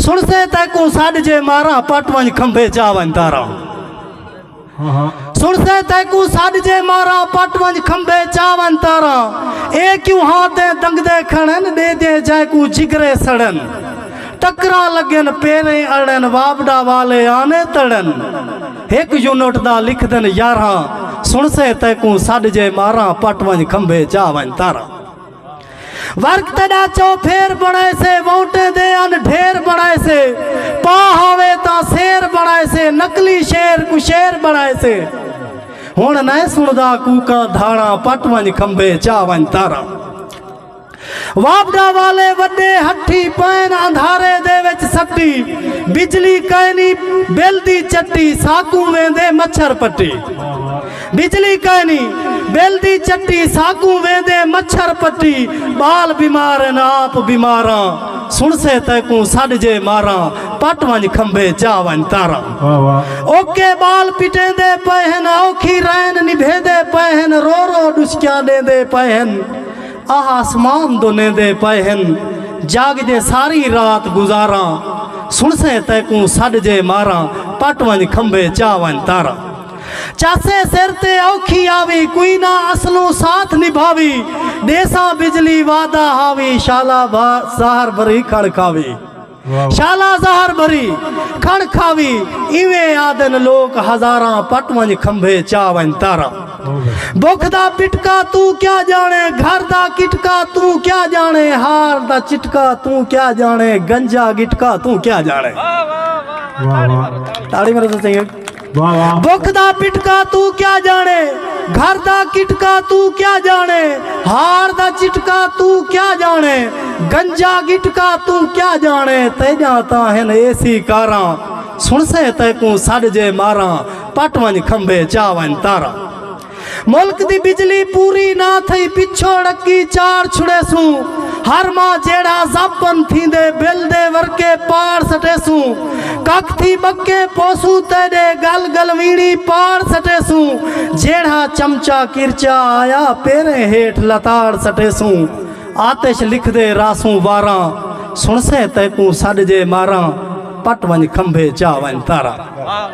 سݨسے تیکوں سݙ جے ماراں پٹ ونج کھمبے جا ونج تاراں سنسے تیکو ساڈ جے مارا پٹ ونج کھمبے چاون تارا اے کیوں ہاں تے دنگ دے کھڑن دے دے جائے کو جگرے سڑن ٹکرا لگن پیرے اڑن وابڈا والے آنے تڑن ایک یونٹ دا لکھ دن یارہ سنسے تیکو ساڈ جے مارا پٹ ونج کھمبے چاون تارا ورق تیڈا چوپھیر بنائے سے وونٹے دے ان ڈھیر بنائے سے پا ہوے تا سیر بنائے سے نقلی شیر کو شیر بنائے سے ہن نہ سندا کوکا دھاڑا پٹ ونج کھمبے چا ونج تارا واپڈا والے وڈے ہٹھی پین اندھارے دے وچ سٹی بجلی کائنی بل دی چٹی ساکوں ویندے مچھر پٹی بجلی کائنی بل دی چٹی ساکوں ویندے مچھر پٹی ٻال بیمار ہن آپ بیماراں سنسے تیکوں سڈ جے ماراں پٹ ونج کھمبے چا ونج تاراں اوکے ٻال پٹیندے پئے ہن اوکھی رین نبھیندے پئے ہن رو رو ڈسکیاں ڈیندے پئے ہن آہ آسمان دو نیندے پئے ہن جاگ جے ساری رات گزاراں سنسے تیکوں سڈ جے ماراں پٹ ونج کھمبے چا ونج تاراں چاسے سر تے اوکھی آوی کوئی نہ اسلوں ساتھ نبھاوی ڈیساں بجلی وعدہ ہاوی شالا بھا زہر بھری کھڑ کھاوی شالا زہر بھری کھڑ کھاوی ایویں آدن لوک ہزاراں پٹ ونج کھمبھے چا ونج تارا بکھ دا پٹکا تو کیا جانے گھر دا کٹکا تو کیا جانے ہار دا چٹکا تو کیا جانے گنجا گٹکا تو کیا جانے تاڑی میرے سے چنگے بک دا پٹکا تو کیا جانے گھر دا کٹکا تو کیا جانے ہار دا چٹکا تو کیا جانے گنجا گٹکا تو کیا جانے تے جاتا ہن اے سی کاراں سن سے تے کوں سڈ جے ماراں پٹ ون کھمبے چا ون تاراں ملک دی بجلی پوری نہ تھئی پچھوڑ اکی چاڑ چھڑیسوں ہر ماہ جیڑھا زب بند تھیندے بل دے ورکے پاڑ سٹیسوں کک تھی بکے پوسوں تیڈے گل گلویڑی پاڑ سٹیسوں جیڑھا چمچا کرچا آیا پیریں ہیٹھ لتاڑ سٹیسوں آتش لکھدے رہسوں واراں سنسیں تیکوں سڈ جے ماراں پٹ ونج کھمبے چا ونج تاراں۔